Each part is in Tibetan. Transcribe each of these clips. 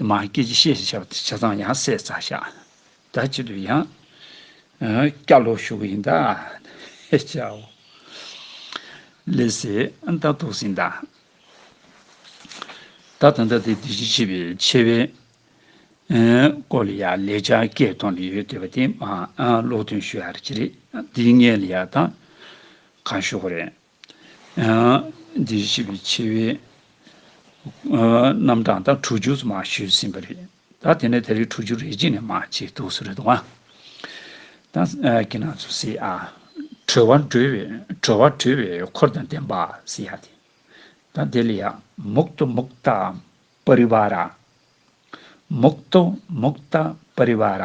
མ་སྐྱེས་ཀྱི་ཤེས་ཞེས་བྱ་བ་དེ་བྱས་ཙང་ཡང་བསྲེག་རྩ་བྱ། ད་ཅི་དུ་ཡང། སྐྱ་ལོ་ཞུགས་ཡིན་ད། ཧེ་ཅའོ། ལས་སེ་ཨན་ད་དུག་སྲིན་ད། ད་ད་ད་དེ་དེ་བཞིན་གཤེགས་པའི་ཆེ་བའི། སྐོར་ལ་ཡང་ལས་བྱ་སྐད་གཏོང་ནི་ཡོད་དེ་བ་དེ་མ་ཨ་ལོག་ཐོན་ཞུ་ཡ་རེ་ཅི་རེད་འདི་ངས་ལ་ཡ་ད། གང་ཞུ་གོ་རེད། འདི་བཞི་པའི་ཆེ་བའི་རྣམ་གྲངས་དང་དྲུག་ཅུ་མ་ཞུས་ཟིན་པ་རེད། ད་དེ་ནས་དེ་རིགས་དྲུག་ཅུ་རེ་གཅིག་ནས་མ་བྱེད་དུ་སུ་རེ་དང། ད་ཀི་ན་ཚོ་སི་ཨ། གྲོལ་བ་གྲོལ་བའི་གྲོལ་བ་གྲོལ་བའི་འཁོར་དང་ལྡན་པ་སི་ཨ་སྟེ། ད་དེ་ལ་ཡང་མུག་ཏོ་མུག་ཏཱ་པ་རི་བ་ར། མུག་ཏོ་མུག་ཏཱ་པ་རི་བ་ར།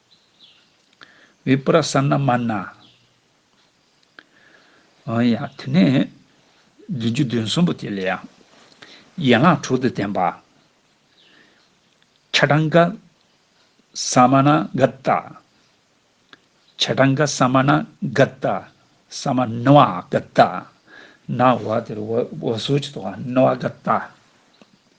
བི་པར་སཱ་ན་མཱ་ན། འོན་ཡང་དེ་ནས་བདུན་ཅུ་བདུན་གསུམ་པོ་དེ་ལ་ཡང་ཡན་ལག་དྲུག་ཏུ་བསྟན་པ། ཆ་ཏང་ག་སཱ་མཱ་ན་ག་ཏཱ། ཆ་ཏང་ག་སཱ་མཱ་ན་ག་ཏཱ། སཱ་མཱ་ན་བ་ག་ཏཱ། ན་བ་དེ་ལ་འོད་ཟེར་གྱི་ཐོག་ན་བ་ག་ཏཱ།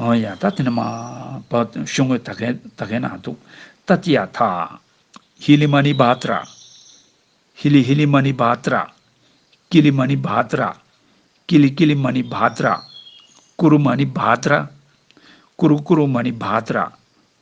ཨོ་ཡ་ད་དེ་ནི་མ་བ་ཤོ་ངོས་ད་གན་ད་གན་ན་འདུག་ད་ཏི་ཡ་ཐ། ཧི་ལི་མ་ནི་བ་ཏི་ར། ཧི་ལི་ཧི་ལི་མ་ནི་བ་ཏི་ར། ཀི་ལི་མ་ནི་བ་ཏི་ར། ཀི་ལི་ཀི་ལི་མ་ནི་བ་ཏི་ར། ཀུ་རུ་མ་ནི་བ་ཏི་ར། ཀུ་རུ་ཀུ་རུ་མ་ནི་བ་ཏི་ར།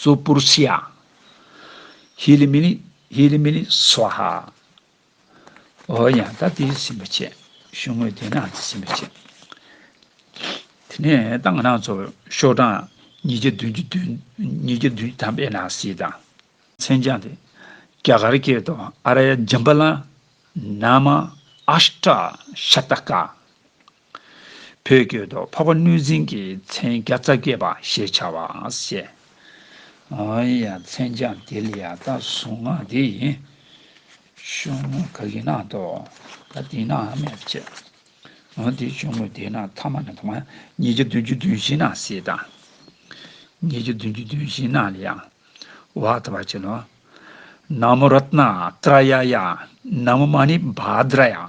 སུ་པུར་ཤཱི་ཡ། ཧི་ལི་མི་ལི་ཧི་ལི་མི་ལི་སཝཱ་ཧ། ཨོ་ཡང་ད་ཏི་སིམ་པ་ཆེ། ཤུགས་དངོས་དེ་ནང་ཏི་སིམ་པ་ཆེ། དེ་ནས་ཏང་གི་ནང་གཙོ་བོ་ཤོག་གྲངས་ཉིས་བརྒྱ་བདུན་ཅུ་བདུན་ཉིས་བརྒྱ་བདུན་ཅུ་ཐམ་པའི་ནང་སི་དང། མཚན་བྱང་དེ་རྒྱ་གར་སྐད་དུ་ཨ་ར་ཡ་ཇམ་པ་ལ་ནཱ་མ་ཨཱཤ་ཏྲ་ཤ་ཏ་ཀ། བོད་སྐད་དུ་འཕགས་པ་གནོད་སྦྱིན་གྱི་མཚན་བརྒྱ་རྩ་བརྒྱད་པ་ཞེས་བྱ་བ་བཤད། ཨོ་ཡ་མཚན་བྱང་དེ་ལ་ཡང་དག་གཟུང་ངག་འདི་ཡིན། ཆུང་ངུ་ག་གི་ནང་དུ་ད་དེ་ན་མེད་པར་བྱས། ཨོ་དེ་ཆུང་ངུ་དེ་ན་ཐ་མ་ན་ཐ་མ་ཉིས་བརྒྱ་བདུན་ཅུ་བདུན་བཞི་ན་སྲིད་དང། ཉིས་བརྒྱ་བདུན་ཅུ་བདུན་བཞི་ན་ལ་ཡང་བ་ད་བ་བྱས་ནོ། ན་མོ་རཏྣ་ཏྲ་ཡ་ཡ་ན་མོ་མ་ནི་བ་དྲ་ཡ།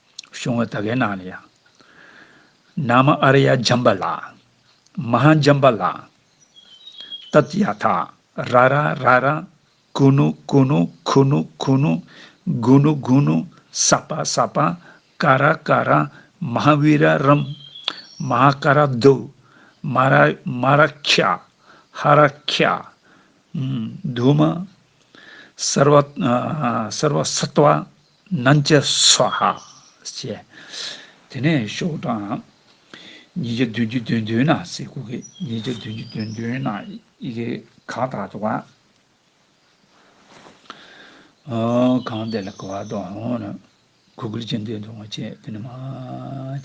བྱུང་བ་དག་གི་ནང་ནས་ཡང། ནཱ་མ་ཨ་ར་ཡ་འཇམ་པ་ལགས། མ་ཧཱ་འཇམ་པ་ལགས། ཏཏ་ཡ་ཐ་ར་ར་ར་ར། ཀུ་ནུ་ཀུ་ནུ་ཁུ་ནུ་ཁུ་ནུ། གུ་ནུ་གུ་ནུ་ས་པ་ས་པ། ཀ་ར་ཀ་ར། མ་ཧཱ་བི་ར་རམ། མ་ཧཱ་ཀ་ར་དུ། མ་ར་མ་ར་ཁྱ། ཧ་ར་ཁྱ། དུ་མ། སར་བ་སར་བ་སི་ཏཱ། སྣང་བྱེད་སྭཱ་ཧཱ། ཅེས་དེ་ནས་ཤོག་དྲིལ། ཉིས་བརྒྱ་བདུན་ཅུ་བདུན་བདུན་ན་སེ་གུ་གེ། ཉིས་བརྒྱ་བདུན་ཅུ་བདུན་བདུན་ན་ཨི་གེ། གང་དག་དུ་བ། གང་དེ་ལ་གུ་བ་དོ། གུ་གུལ་ཅན་དེ་དུ་བ་ཅེས་དེ་ནི་མ།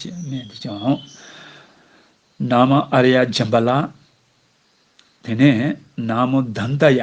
ཅེས་སྨྲས་འདི་ཅང། ན་མོ་ཨ་ར་ཡ་སྦྱིན་པ་ལ། དེ་ནས་ན་མོ་བདཱནྟ་ཡ།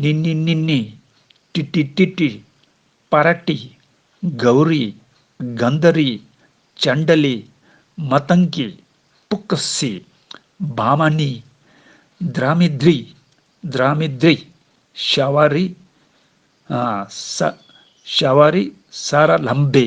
ནི་ནི་ནི་ནི། ཏི་ཏི་ཏི་ཏི། པ་ར་ཏི། གའུ་རི། གཱན་དྷ་རི། ཅཱན་དྷ་ལི། མ་ཏང་ཀི། པུག་ཀ་སི། བ་མ་ནི། དྷི་ར་མི་དྷི། དྷི་ར་མི་དྷི། ཤ་བ་རི། ཧ། ཤ་བ་རི། ས་ར་ལམ་བི།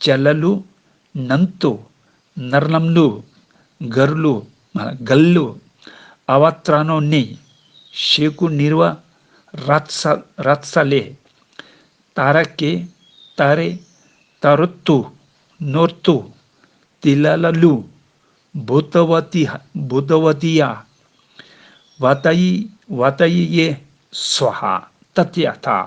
བྱ་ལ་ལུ། ནམ་ཏུ། ནར་ལམ་ལུ། མགར་ལུ། མགལ་ལུ། ཨ་བ་ཏྲ་ནོ་ནི། ཤེ་ཀུ་ནི་ར། རཀ་ས་རཀ་ས་ལེ། ཏ་ར་ཀེ། ཏ་རེ། ཏ་རོ་ཏུ། ནོར་ཏུ། ཏི་ལ་ལ་ལུ། བུ་ཏི་བ་ཏི་ཧ། བུ་ཏི་བ་ཏི་ཡ། བ་ཏ་ཡི། བ་ཏ་ཡི་ཡེ། སུ་ཧ། ཏ་ཏི་ཨ་ཏ།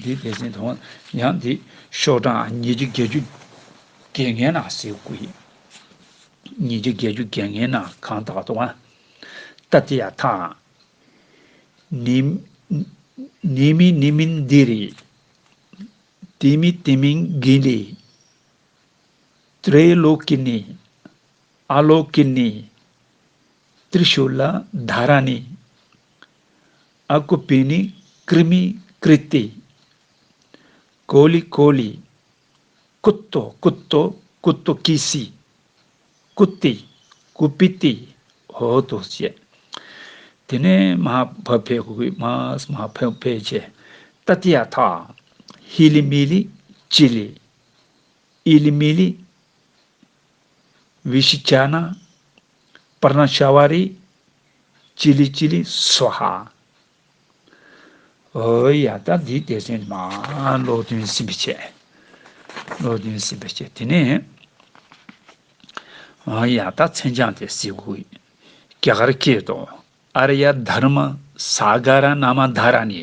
འདི་དེ་བཞིན་དུ་ཡང་འདི་ཤོག་གྲངས་ཉིས་བརྒྱ་བརྒྱད་ཅུ་བརྒྱད་ལྔའི་ནང་གསེས་དགུ་ཡིན། ཉིས་བརྒྱ་བརྒྱད་ཅུ་བརྒྱད་ལྔའི་ནང་གང་དག་ཏུའང་ཏཱ་ཏི་ཡ་དང། ནི། ནི་མི་ནི་མིན་འདི་རི། དེ་མི་དེ་མིན་གི་ལི། ཏྲེ་ལོ་ཀི་ནི། ཨ་ལོ་ཀི་ནི། ཏྲི་ཤུ་ལ་དྷ་ར་ནི། ཨ་ཀུ་པི་ནི་ཀྲི་མི་ཀྲི་ཏི། ཀོ་ལི་ཀོ་ལི། ཀུ་ཏོ་ཀུ་ཏོ་ཀུ་ཏོ་ཀི་སི། ཀུ་ཏི་ཀུ་པི་ཏི་ཧོ་ཏོ་ཅེས། དེ་ནས་མ་བྷ་བྷེ་ཧུ་ཧི་མ་སི་མ་བྷ་བྷེ་ཅེ། ཏ་ཏི་ཡ་ཐ། ཧི་ལི་མི་ལི་ཅི་ལི། ཨི་ལི་མི་ལི། བི་ཤི་ཅ་ན། པར་སྣང་ཤ་བ་རི། ཅི་ལི་ཅི་ལི་སུ་ཧ། ཨོའི་ཡ་ད་འདི་དེ་ཚོའི་ནང་ཀློག་འདོན་ཟིན་པའི་ཆེད། ཀློག་འདོན་ཟིན་པའི་ཆེད་དེ་ནས། ཨོའི་ཡ་ད་མཚན་བྱང་དེ་སེ་གུ་ཡི་སྐྱ་གར་སྐད་དུ་ཨར་ཡ་དྷརྨ་སཱ་ག་ར་ན་མ་དྷ་ར་ནི།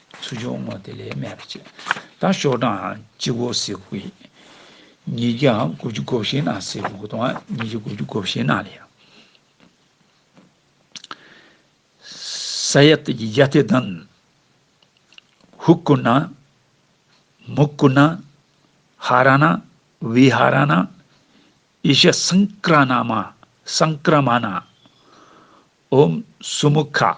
ཚུར་བྱུང་ངོ་དེ་ལས་སྨད་པ་བྱེད། དང་ཤོག་གྲངས་སྤྱི་བོ་སེར་བུ་ཡིས། ཉིས་བརྒྱ་དགུ་བཅུ་གོ་བཞི་ན་སེར་བུ་དང་ཉིས་བརྒྱ་དགུ་བཅུ་གོ་བཞི་ན་ལས། ས་ཡ་སྟེ་བརྒྱད་བརྒྱ་སྟེ་དང། ཧཱུྃ་བསྐུར་ན། མུ་བསྐུར་ན། ཧ་ར་ན། བི་ཧ་ར་ན། ཨི་ཤ་སངས་ཀ་ར་ན་མ། སངས་ཀ་ར་མ་ན། ཨོྃ་སུ་མུ་ཁ།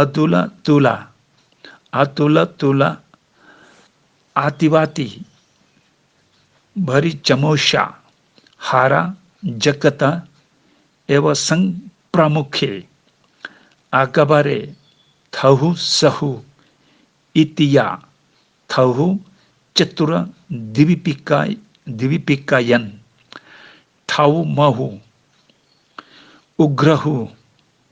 ཨ་ཏུ་ལ་ཏུ་ལ། ཨ་ཏུ་ལ་ཏུ་ལ། ཨ་ཏི་བ་ཏི། བྷ་རི་ཇ་མོ་ཤ། ཧ་ར་ཇ་ཀ་ཏ། ཨེ་བ་སངས་པྲ་མུ་ཁེ། ཨ་ཀ་བ་རེ། དྷ་ཧུ་ས་ཧུ། ཨི་ཏི་ཡ། དྷ་ཧུ་ཅ་ཏུ་ར་དི་བི་པི་ཀ། དི་བི་པི་ཀ་ཡན། ཏྷ་ཧུ་མ་ཧུ། ཨུ་གྷ་ར་ཧུ།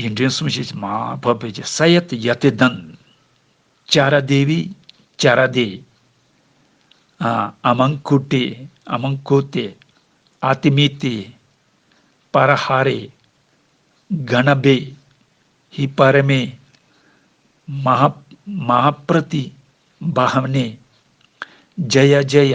ཡིན། དྲན་གསུམ་ཞེས་བྱ་མ་བབས་པས་ཀྱི་ས་ཡ་ཏི་ཡ་ཏི་དང། ཀྱཱ་ར་དེ་བི་ཀྱཱ་ར་དེ། ཨ་མང་ཀུ་ཏི་ཨ་མང་ཀུ་ཏི། ཨ་ཏི་མི་ཏི། པ་ར་ཧ་རི། གྷ་ན་བི། ཧི་པ་རི་མི། མ་ཧ་མ་ཧ་པྲི་ཏི་བ་ཧ་ནི། ཇཱ་ཡ་ཇཱ་ཡ།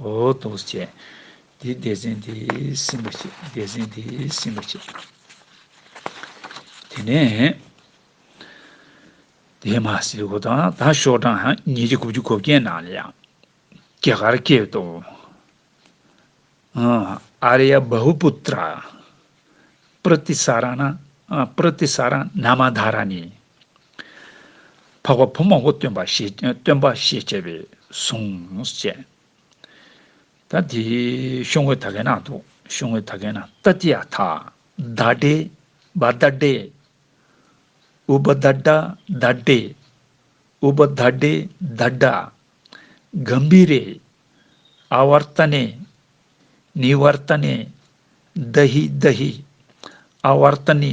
འོ་དོ་ཅི། དེའི་སྡེ་ཚན་དེ་ཟིན་པར་བྱེད། སྡེ་ཚན་དེ་ཟིན་པར་བྱེད། དེ་ནས། དེས་མ་སྲིད་ཁོ་དང་ད་ཤོག་གྲངས་ཉིས་བརྒྱ་དགུ་བཅུ་གོ་བརྒྱད་ནང་ལ་ཡང། སྐྱེ་སྐར་སྐྱེས་ཏོ། ཨ་རི་ཡ་བྷ་བྷུ་པུ་ཏྲ། པྲི་ཏི་ས་ར་ན། པྲི་ཏི་ས་ར་ན་མ་དྷ་ར་ནི། འཕགས་པ་བུ་མང་པོ་སྟོན་པ་ཞེས་བྱ་བའི་གཟུངས་བཅས། ད་དེ་ཤོ་ངོས་ད་གན་ན་དུ་ཤོ་ངོས་ད་གན་ན་ཏཱ་ཏི་ཡ་ཐ། ད་ཏྲེ། བ་ད་ཏྲེ། ཨུ་བ་ད་ཏྲ་ད་ཏྲེ། ཨུ་བ་ད་ཏྲེ་ད་ཏྲ། གམ་བི་རེ། ཨ་བར་ཏཱ་ནེ། ནི་བར་ཏཱ་ནེ། ད་ཧི་ད་ཧི། ཨ་བར་ཏཱ་ནི།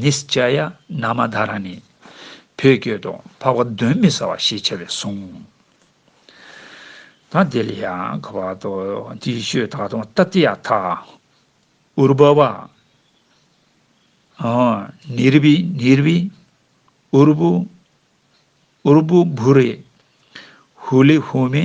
ནིས་ཅཱ་ཡ་ན་མ་དྷ་ར་ནི། བུ་བསྐྱོད་དོ་འཕགས་པ་གདོན་མི་ཟ་བ་ཞེས་བྱ་བའི་གཟུངས། ད་དེ་ལ་ཡང་གོ་བར་དོ། དེའི་ཆོས་ད་དུང་ཏཱ་ཏི་ཡ་ཐ། ཨུར་བྷ་བ། ནིར་བྷི་ནིར་བྷི། ཨུར་བྷུ། ཨུར་བྷུ་བྷུ་རེ། ཧུ་ལི་ཧུ་མི།